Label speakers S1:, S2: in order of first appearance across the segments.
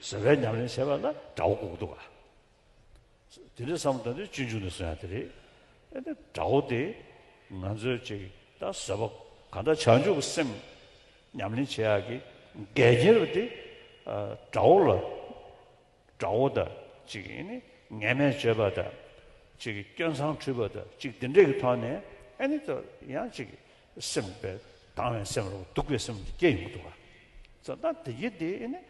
S1: ཟེར་བའི་ཉམས་ལེན་བྱས་པ་ལ་དགྲ་བོ་འགོག་འདུག་ག། དེ་འདྲའི་བསམ་བློ་ལྟ་འདོད་གཅིག་མཇུག་ནས་སོན་ཡ་དེ་རེད། ཨེ་ནས་དགྲ་བོ་དེ་ང་ཚོའི་ཅིག་ད་ཟེར་བ་ག་འདྲ་བྱང་ཆུབ་སེམས་ཉམས་ལེན་བྱེད་ཡག་གི་འགལ་རྐྱེན་རེད་དེ། དགྲ་བོ་ལ་དགྲ་བོ་དང་ཅིག་ཨེ་ནས་ངན་སྨྲས་བྱེད་པ་དང་ཅིག་སྐྱོན་མཚང་འཁྲུད་པ་དང་ཅིག་དེ་འདྲའི་གི་ཐོག་ནས་ཨེ་ནས་ད་ཡང་ཅིག་སེམས་དཔའ་དྭངས་བའི་སེམས་ལ་སྡུག་པའི་སེམས་སྐྱེ་ཡོང་གི་འདུག་ག། ད་དེ་གི་དེ་ཨེ་ནས་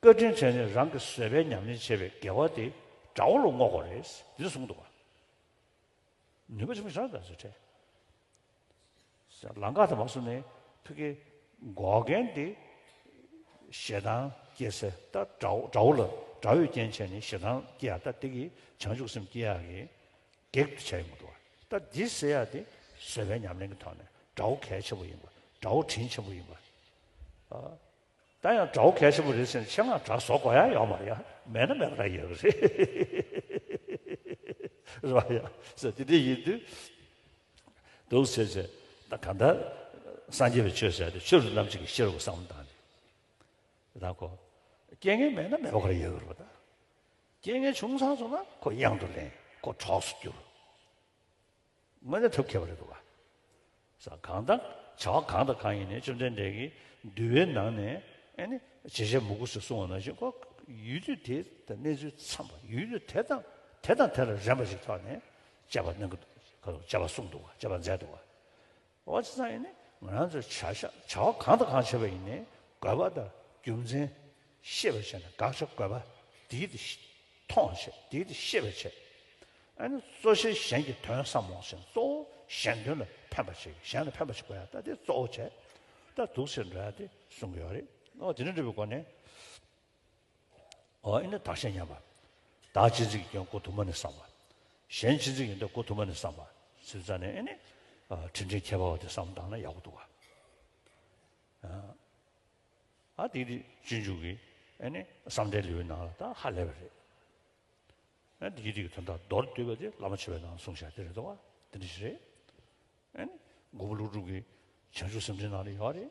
S1: བཀའ་དྲིན་ཆེ་ནི་རང་གི་བཟོད་པའི་ཉམས་ལེན་བྱེད་པའི་དགེ་བ་དེ་དགྲ་བོ་ལ་བསྔོག་པ་རེད་འདི་གསུངས་འདུག་ནུས་པ་ཆེན་པོ་ཞིག་རང་དང་བཟོད་བྲལ། ལང་ཀ་དང་བ་སོ་ནས་ཐུགས་ཀྱི་འགོག་རྐྱེན་ཏེ་ཞེ་སྡང་སྐྱེས་ཚེ་ད་དགྲ་བོ་ལ་དགྲ་བོས་རྐྱེན་བྱས་ནས་ཞེ་སྡང་སྐྱེ་ཡག་ད་དེ་གི་བྱང་ཆུབ་སེམས་སྐྱེ་ཡག་གི་གེགས་དུ་བྱས་ཡོང་གི་འདུག་ད་འདི་བསལ་ཡག་དེ་བཟོད་པའི་ཉམས་ལེན་གྱི་ཐོག་ནས་དགྲ་བོ་གལ་ཆེན་པོ་ཡིན་པ་དགྲ་བོ་དྲིན་ཆེན་པོ་ཡིན་པ། ད་ཡང་དགྲ་བོ་གལ་ཆེན་པོ་རེད་ཟེར་ནས་ཆེད་མངགས་དྲག་ཟོག་གོ་ཡ་ཡོད་མ་རེད་མེད་ན་མེད་པ་ར་ཡོད་རེད། རེད་བ་ཡ་ཟེར་དེ་འདྲ་ཡིན་དུས་འདུག་ཟེར་ཟེར་ད་གང་ལྟར་སངས་རྒྱས་པའི་ཆོས་ཟེར་ཏེ་ཆོས་རུ་རྣམ་གཅིག་གི་ཤེས་རབ་གསང་བ་དང་རེད་ད་གོ། རྐྱེན་ངན་མེད་ན་མེད་པ་ག་ར་ཡོད་རེད་བ་ད། རྐྱེན་ངན་བྱུང་ཚར་སོང་ན་ཁོ་གཡང་དུ་ལེན་ཁོ་གྲོགས་སུ་གྱུར། དངོས་གནས་ཐབས་མཁས་པ་རེད་འདུག་ག་ས་གང་དང་བྱ་བ་གང་དང་གང་ཡིན་ནས་བཅོམ་ལྡན་འདས་ཀྱིས་འདུལ་བའི་ནང་ནས་ཨེ་ནི་བྱེད་བྱེད་མུ་གུ་སུ་གསུང་བ་ནང་བཞིན་ཁོ་ཡུལ་དུས་དེ་དང་གནས་ཚུལ་འཚམས་པ་ཡུལ་དུས་དེ་དང་དེ་དང་དེ་ལ་རན་པ་ཞིག་ཐོག་ནས་དཔྱད་པ་གནང་གི་འདུག་ག་དཔྱད་པ་གསུངས་འདུག་ག་དཔྱད་པ་མཛད་འདུག་ག། བ་ཅི་ཙམ་ཡིན་ནི་ང་རང་ཚོས་བྱ་བྱ་བ་གང་དང་གང་བྱེད་པ་ཡིན་ནི་དགོས་པ་དང་རྒྱུ་མཚན་ཤེས་པར་བྱས་ནས་དགག་བྱ་དགོས་པ་དེའི་དེ་མཐོང་བར་བྱེད་དེའི་དེ་ཤེས་པར་བྱེད་ཨ་ནི་གཙོ་བྱས་གཞན་གྱི་དོན་བསམ་མོང་བྱེད་གཙོ་བོ་གཞན་དོན་ལ་ཕན་པར་བྱེད་གཞན་ལ་ཕན་པར་བྱེད་དགོས་ཡ་ད་དེ་གཙོ་བོ་བྱས་ད་དུག་ཚེར་འདྲ་ཡ་དེ་གསུང་གི་ཡོད་རེད་ཨོ་དེ་འདྲ་འདྲ་བའི་སྒོ་ནས། ཨཱ་ནི་བདག་གཞན་མཉམ་པ། བདག་ཅི་མཚིག་ཡིན་ཀྱང་གོ་དུ་མ་ནི་བསམ་པ། གཞན་ཅི་མཚིག་ཡིན་ད་གོ་དུ་མ་ནི་བསམ་པ། ཚིག་རྩ་ནི་ཨཱ་ནི། དྲིན་ཅན་ཁྱད་པར་བ་དེ་བསམ་བཏང་ན་ཡག་པོ་འདུག་ཨ། ཨཱ་དེ་དེ་སྤྱོད་འཇུག་གི་ཨཱ་ནི་བསམ་གཏན་ལེའུའི་ནང་ལ་ད་ཧ་ལས་པ་རེད། ཨཱ་དེ་དེ་གི་དོན་དག་མདོར་བསྡུས་པ་དེ་བླ་མ་ཆོས་པའི་ནང་གསུངས་བཞག་དེ་རེད་དོ། དེ་འདྲ་ཞིག་རེད། ཨཱ་ནི་མགོན་པོ་ཀླུ་སྒྲུབ་ཀྱི་བྱང་ཆུབ་སེམས་འགྲེལ་ནང་ལ་ཡོད་རེད།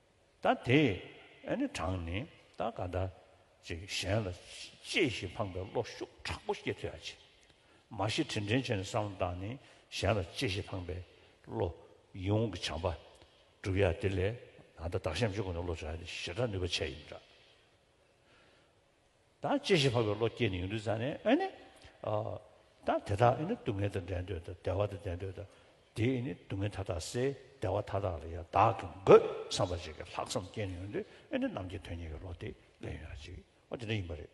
S1: ད་དེ་ནི་དྲངས་ནས་ད་ག་ད་ཅིག་གཞན་ལ་གཅེས་ཤིང་ཕངས་པའི་བློ་ཤུགས་དྲག་པོ་སྐྱེ་ཐུ་ཡ་བྱེད། མ་གཞི་དྲིན་དྲན་བྱས་ནས་བསམ་བློ་བཏང་ནས་གཞན་ལ་གཅེས་ཤིང་ཕངས་པའི་བློ། ཡིད་འོང་གི་བྱམས་པ། བསྒྲུབ་ཡ་དེ་ལས་ད་ལྟ་བདག་གཞན་བརྗོད་དགོས་ན་བློ་བྱ་ཡ་དེ་ཞེ་དྲག་ནུས་པ་ཆེ་ཡིན་འདྲ། ད་ཅི་བཞིན་འཕགས་པའི་བློ་སྐྱེས་ནས་ཡུན་དུ་བརྫངས་ནས་ཨ་ནི། ད་དེ་དག་ཨེ་ནི་སྡུག་བསྔལ་དང་འགྲན་འདོད་དང་བདེ་བ་དང་འགྲན་འདོད་དང། དེས་ཨེ་ནི་སྡུག་བསྔལ་མཐའ་དག་སེལ་བདེ་བ་མཐའ་དག་ལ་ཡང་དག་གི་འགོད་བསམ་པ་ཅིག་གིས་ལྷག་བསམ་སྐྱེས་ནས་ཡུན་དུ་ཨེ་ནི་ནམ་གྱི་དོན་ཉིད་ཀྱི་བློ་དེ་ལས་ཡོད་ན་ཅིག་ཨོ་དེ་འདྲ་ཡིན་པ་རེད།